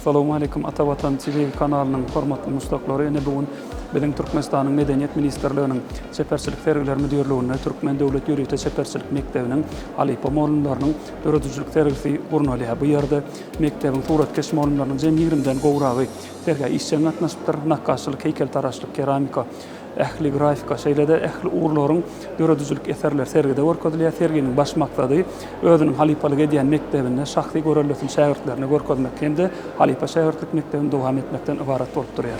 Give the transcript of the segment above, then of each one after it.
Salowmaleýkim Ata Watan TV kanalynyň hormatly muşdaklary ine bu gün biziň Türkmenistanyň Medeniýet ministrliginiň Çeperçilik sergiler müdirliginde Türkmen döwlet ýörite çeperçilik mekdebiniň halypa molumlarynyň döredijilik sergisi gurnalýar bu ýerde mekdebiň suratkeş molumlarynyň jem ýigrimi den gowragy sergä işjeň gatnaşypdyr nakgaşçylyk heýkeltaraşlyk keramika Ähli grafika, şeýle-de ähli ugurlaryň döredijilik eserleri sergide görkezilýär. Serginiň baş maksady özüniň halypalyk edýän mekdebinde şahsy göreldesini şägirtlerine görkezmek hem-de halypa şägirtlik mekdebini dowam etmekden ybarat bolup durýar.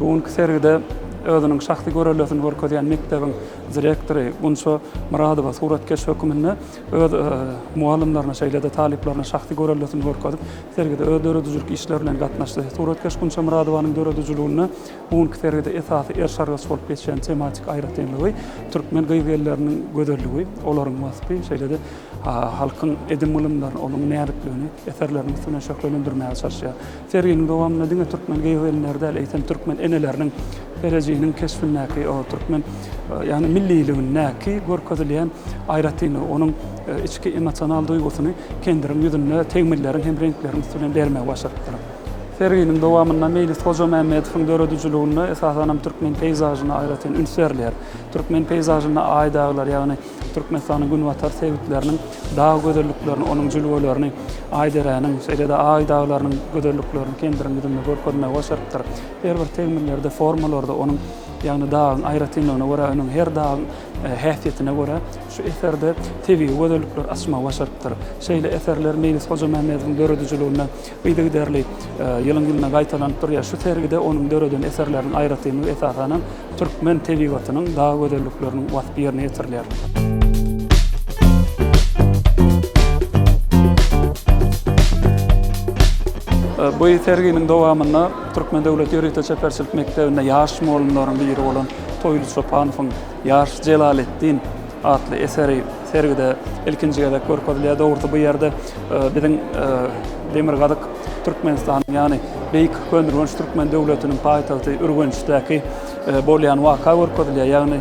Bu günki sergide özüniň şahsy görellesini görkezýän mekdebiň direktory Gunça Myradowa suratkeş höküminde öz mugallymlaryna, şeýle-de talyplaryna şahsy görellesini görkezip, sergide öz döredijilik işleri bilen gatnaşdy. Suratkeş Gunça Myradowanyň döredijiliginde bu günki sergide esasy erşargaç bolup geçýän tematik aýratynlygy türkmen gyz-gelleriniň gözelligi, olaryň waspy, şeýle-de halkyň edim-gylymlaryny, onuň näzikligini eserleriniň üstünden şöhlelendirmäge çalyşýar. Serginiň dowamynda diňe türkmen geogenleri däl, eýsem, türkmen eneleriniň Ferejiniň keşbindäki, o türkmen, ýagny milliligindäki görkezilýän aýratynlygy, onuň içki emosional duýgusyny kendiriň ýüzünde tegmilleriň hem reňkleriň üsti bilen bermegi başarypdyr. Serginiň dowamynda Meýlis Hojamämmedowyň döredijiliginde, esasanam, türkmen peýzažyna aýratyn üns berilýär. Türkmen peýzažynda aý-daglar, ýagny Türkmenistanyň günbatar sebitleriniň dag gözelliklerini, onuň jülgelerini, Aýdereniň, şeýle-de Aý daglarynyň gözelliklerini kendiriň ýüzünde görkezmegi başarypdyr. Her bir tegmillerde, formalarda onuň, ýagny dagyň aýratynlygyna görä, onuň her dagyň häsiýetine görä şu eserde tebigy gözellikleri açmagy başarypdyr. Şeýle eserler Meýlis Hojamämmedowyň döredijiliginde Yzygiderli ýylyň-ýylyna gaýtalanyp durýar. Şu sergide onuň döreden eserleriniň aýratynlygy esasan hem türkmen tebigatynyň dag gözellikleriniň waspy ýerine ýetirilýär. Bu serginiň dowamynda Türkmen döwlet ýörite çeperçilik mekdebinde ýaş mugallymlaryň biri bolan Toýly Çopanowyň, ýaş Jelaleddin Atly eseri sergide ilkinji gezek görkezilýär. Dogrusy bu ýerde biziň demirgazyk Türkmenistanyň, ýagny beýik Köneürgenç türkmen döwletiniň paýtagty Ürgençdäki bolýan waka görkezilýär. Ýagny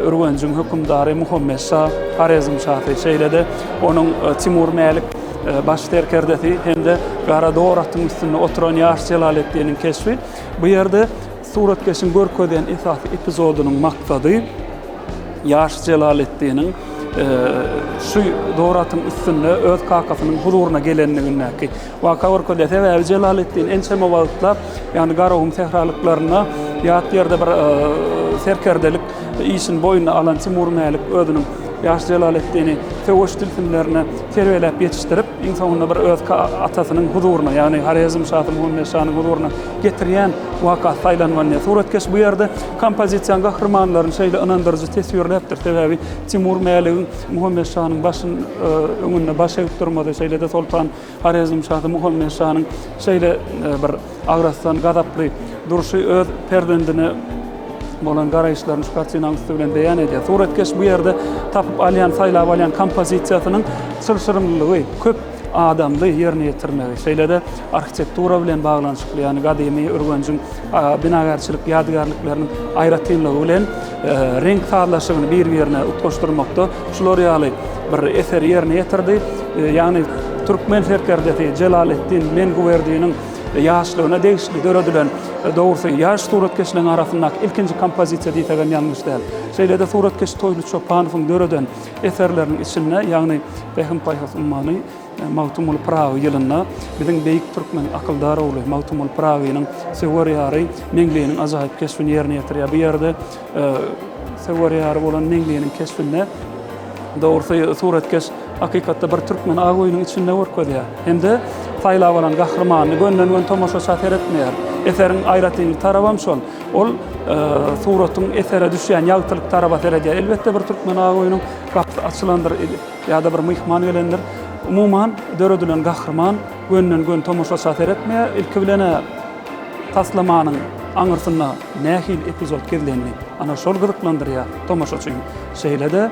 Ürgenjiň hökümdary Muhammet şa, Horezm şasy, şeýle-de onuň Timur Mälik baş serkerdesi hem-de gara dor atyň üstünde oturan ýaş Jelaleddiniň keşbi. Bu ýerde Suratkeşiň görkezýän esasy epizodynyň maksady ýaş Jelaleddiniň şu zoratyň üstünde öz kakasynyň huzuryna gelenligindäki waka görkezýär. Sebäbi Jelaleddin ençeme wagtlap, ýagny Garagum sähralyklarynda ýat ýerde bir serkerdelik işini boýnuna alan Timur Mälik özüniň ýaş Jelaleddini söweş tilsimlerine terbiýeläp ýetişdirip, iň soňunda bir öz atasynyň huzuryna, ýagny Horezm şasy Muhammet şanyň huzuryna getirýän waka saýlanmanýar. Suratkeş bu ýerde kompozisiýanyň gahrymanlaryny şeýle ynandyryjy teswirläpdir, sebäbi Timur Mäligiň Muhammet şanyň başyny öňünde baş egip durmazy, şeýle-de Soltan Horezm şasy Muhammet şanyň şeýle bir agrasdan, gazaply durşy öz perzendine bolan garaýyşlaryny şu kartinanyň üsti bilen beýan edýär. Suratkeş bu ýerde tapyp alýan, saýlap alýan kompozisiýasynyň çylşyrymlylygy, köp adamly ýerine ýetirmegi, şeýle-de arhitektura bilen baglanyşykly, ýagny gadymy Ürgenjiň binagärçilik ýadygärlikleriniň aýratynlygy bilen reňk sazlaşygyny bir-birine utgaşdyrmakda şular ýaly bir eseri ýerine ýetirdi. Ýagny türkmen serkerdesi Jelaleddin Menguwerdiniň ýaşlygyna degişli döredilen, dogrusy, ýaş suratkeşleriň arasyndaky ilkinji kompozisiýa diýsegem ýalňyş däl. Şeýle-de suratkeş Toýly Çopanowyň döreden Eserleriniň içinde, ýagny Pähim-paýhas ummany Magtymguly Pyragy ýylynda biziň beýik türkmen akyldar ogly Magtymguly Pyragynyň söwer ýary Meňliniň ajaýyp keşbini ýerine ýetirýär. Bu ýerde söwer ýary bolan Meňliniň keşbinde dogrusy suratkeş hakykatda bir türkmeni ak öýüniň içinde görkezýär. Hem-de saýlap alan gahrymanyny gönden-gön tomaşaça seretmeýär. Eseriň aýratynlyk tarabam şol. Ol suratyň esere düşýän ýagtylyk taraba seredýär. Elbetde bir türkmen aýunyň gapysy açylandyr ýa-da bir myhman gelendir. Umuman döredilen gahryman gönden-gön tomaşaça seretmeýär. Ilki bilen taslamanyň aňyrsynda nähili epizod gizlenli, ana şol gyzyklandyrýar tomaşaçyny. Şeýle-de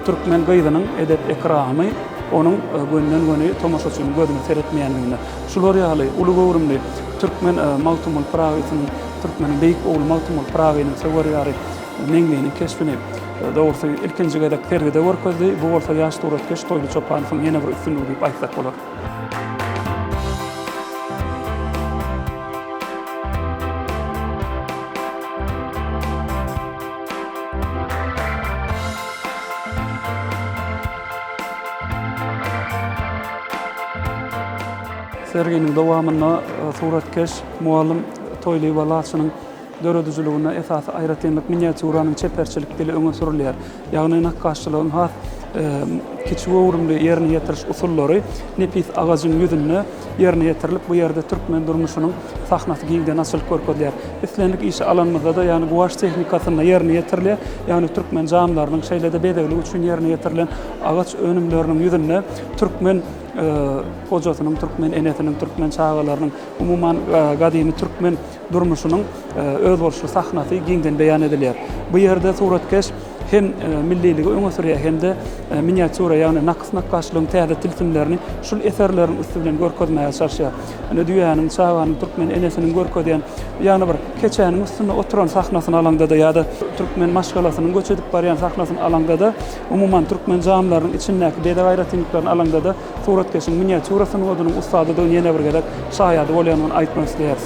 türkmen gyzynyň edep-ekramy onuň gönden-göni tomaşaçynyň gözüne seretmeýänliginde. Şular ýaly uly göwrümli türkmen Magtymguly Pyragysynyň, türkmeniň beýik ogly Magtymguly Pyragynyň söwer ýary Meňliniň keşbini, dogrusy, ilkinji gezek sergide görkezdi. Bu bolsa ýaş suratkeş Toýly Çopanowyň ýene bir üstünligi diýip aýtsak bolar. Serginiň dowamynda suratkeş mugallym Toýlyba Laçynyň döredijiliginde esasy aýratynlyk miniatýuranyň çeperçilik dili öňe sürülýär. Ýagny nakgaşçylygyň has kiçigöwrümli ýerine ýetiriş usullary nepis agajyň ýüzünde ýerine ýetirilip, bu ýerde türkmen durmuşynyň sahnasy giňden açylyp görkezilýär. Islendik işi alanymyzda-da, ýagny guwaç tehnikasynda ýerine ýetirilýär, ýagny türkmen janlarynyň, şeýle-de bezeglik üçin ýerine ýetirilen agaç önümleriniň ýüzünde türkmen hojasynyň, türkmen enesiniň, türkmen çagalarynyň, umuman, gadymy türkmen durmuşynyň özboluşly sahnasy giňden beýan edilýär. Bu ýerde suratkeş. hem milliligi öňe sürýär hem-de miniatýura, ýagny nakys nakgaşlygyň täze tilsimlerini şul eserleriň üsti bilen görkezmäge çalyşýar. Ine, düýäniň, çaganyň, türkmen enesiniň görkezýän, ýagny bir keçäniň üstünde oturan sahnasyny alaňda-da ýa-da türkmen maşgalasynyň göç edip barýan sahnasyny alaňda-da, umuman, türkmen jamileriniň içindäki bezeg aýratynlyklaryny alaňda-da suratkeşiň miniatýura sungatynyň ussadydygyny ýene bir gezek şaýady bolýandygyny aýtmak isleýäris.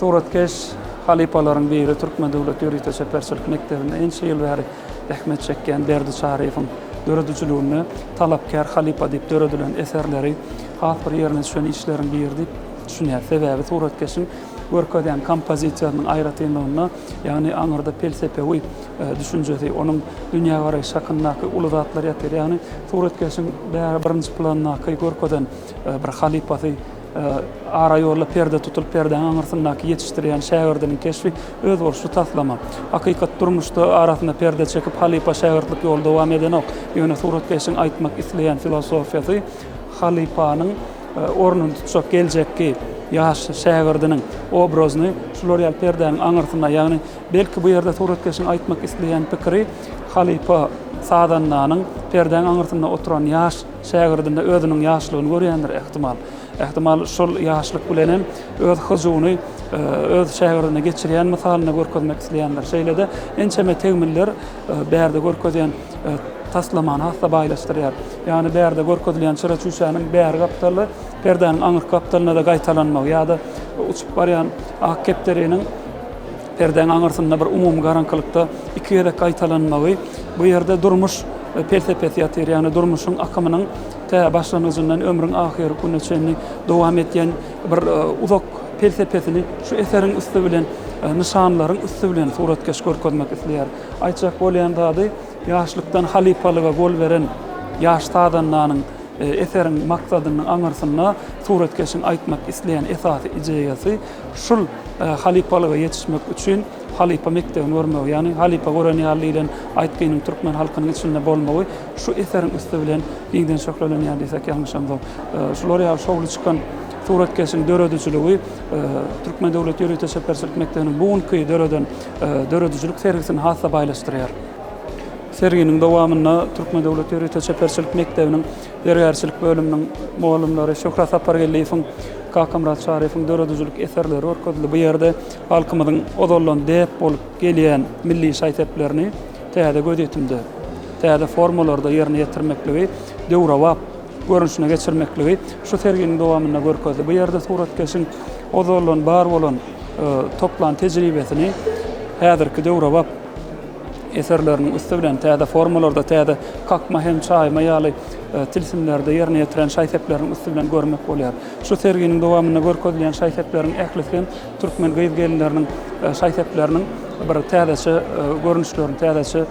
Suratkeş halypalaryň biri, Türkmen döwlet ýörite çeperçilik mekdebinde ençe ýyl bäri zähmet çekýän Berdi Çaryýewiň döredijiliginde Talapkär halypa diýip döredilen eserleri has bir ýerine düşen işleriň biri diýip düşünýär. Sebäbi suratkeşiň görkezýän kompozisiýasynyň aýratynlygynda, ýagny aňyrda pelsepewi düşünjesi, onuň dünýägaraýşy hakyndaky uly zatlar ýatyr. Ýagny suratkeşiň bäri birinji plandaky görkezen bir halypasy. Araýolda perde tutulyp, perdäň aňyrsyndaky ýetişdirýän şägirdiniň keşbi, özboluşly taslama. Hakykat durmuşda arasyna perde çekip, halypa-şägirtlik ýoly dowam edenok. Ýöne suratkeşiň aýtmak isleýän filosofiýasy halypanyň ornuny tutjak geljekki ýaş şägirdiniň obrazyny şular ýaly perdäniň aňyrsyna, ýagny belki bu ýerde suratkeşiň aýtmak isleýän pikiri halypa sazandanyň perdäň aňyrsynda oturan ýaş Şägirdinde özüniň ýaşlygyny görýändir, ähtimal. Ähtimal, şol ýaşlyk bilen hem öz hyjuwyny öz şägirdine geçirýän mysalynda görkezmek isleýändir. Şeýle-de ençeme tegmiller bärde görkezýän taslamany has-da baýlaşdyrýar. Ýagny bärde görkezilýän çyra-çüýşäniň bäri gapdaly perdäniň aňyrky gapdalynda-da gaýtalanmagy ýa-da uçup barýan ak kepderiniň Perdäň aňyrsynda bir umumy garaňkylykda iki gezek gaýtalanmagy, bu ýerde durmuş pelsepesi ýatyr, ýagny durmuşyň akymynyň tä başlangyjyndan ömrüň ahyr gününe çenli dowam edýän bir uzak pelsepesini şu eseriň üsti bilen, nyşanlaryň üsti bilen suratkeş görkezmek isleýär. Aýtjak bolýan zady, ýaşlykdan halypalyga gol beren ýaş sazandanyň eseriň maksadynyň aňyrsynda suratkeşiň aýtmak isleýän esasy ideýasy, Şul halypalyga ýetişmek üçin halypa mekdebini görmegi, ýagny halypa gören ýaly diýlen aýtgynyň türkmen halkynyň içinde bolmagy şu eseriň üsti bilen giňden şöhlelenýär diýsek ýalňyşamzok. Şular ýaly şowly çykan suratkeşiň döredijiligi Türkmen döwlet ýörite çeperçilik mekdebiniň bu günki döreden döredijilik sergisini has-da baýlaşdyrýar. Serginiň dowamynda Türkmen döwlet ýörite çeperçilik mekdebiniň Zergärçilik bölüminiň mugallymlary Şöhrat Sapargeldiýewiň, Kakamyrat Şaryýewiň döredijilik eserleri görkezildi. Bu ýerde halkymyzyň ozaldan däp bolup gelýän milli şaý-seplerini täze gözýetimde, täze formalarda ýerine ýetirmekligi, döwrebap görnüşine geçirmekligi şu serginiň dowamynda görkezdi. Bu ýerde suratkeşiň ozaldan bar bolan toplan tejribesini häzirki döwrebap. eserleriniň üsti bilen täze formalarda, täze kakma hem çaýma ýaly tilsimlerde ýerine ýetiren şaý-sepleriniň üsti bilen görmek bolýar. Şu serginiň dowamynda görkezilýän şaý-sepleriň ählisi hem türkmen gyz-gelinleriniň şaý-sepleriniň bir täzeçe görnüşlerini, täzeçe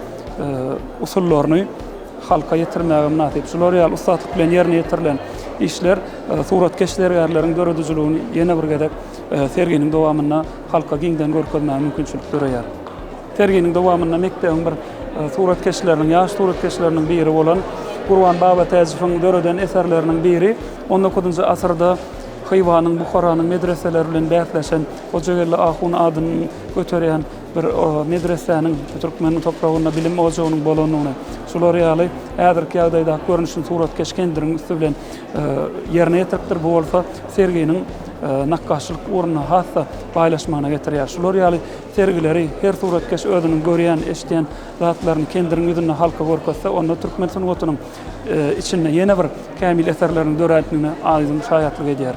usullaryny halka ýetirmäge mynasyp. Şular ýaly ussatlyk bilen ýerine ýetirilen işler suratkeş zergärleriň döredijiligini ýene bir gezek serginiň dowamynda halka giňden görkezmäge mümkinçilik döreýär. Serginiň dowamynda mekdebiň bir suratkeşleriniň, ýaş suratkeşleriniň biri bolan Gurban Babatäjowyň döreden eserleriniň biri, on dokuzynjy asyrda Hywanyň, Buharanyň medreseleri bilen bäsleşen Hojageldi ahun adyny göterýän bir medresäniň, türkmeniň topragynda bilim ojagynyň bolandygyny, şular ýaly häzirki ýagdaýdaky görnüşini suratkeş kendiriň üsti bilen ýerine ýetiripdir. Bu bolsa serginiň nakgaşçylyk ugrunda has-da baýlaşmagyna getirýär. Şular ýaly Sergileri, her suratkeş özüniň görýän, eşidýän zatlaryny kendiriň ýüzünde halka görkezse, onda türkmen sungatynyň içinde ýene bir kämil eserleriň dörändigine aýdyň şaýatlyk edýär.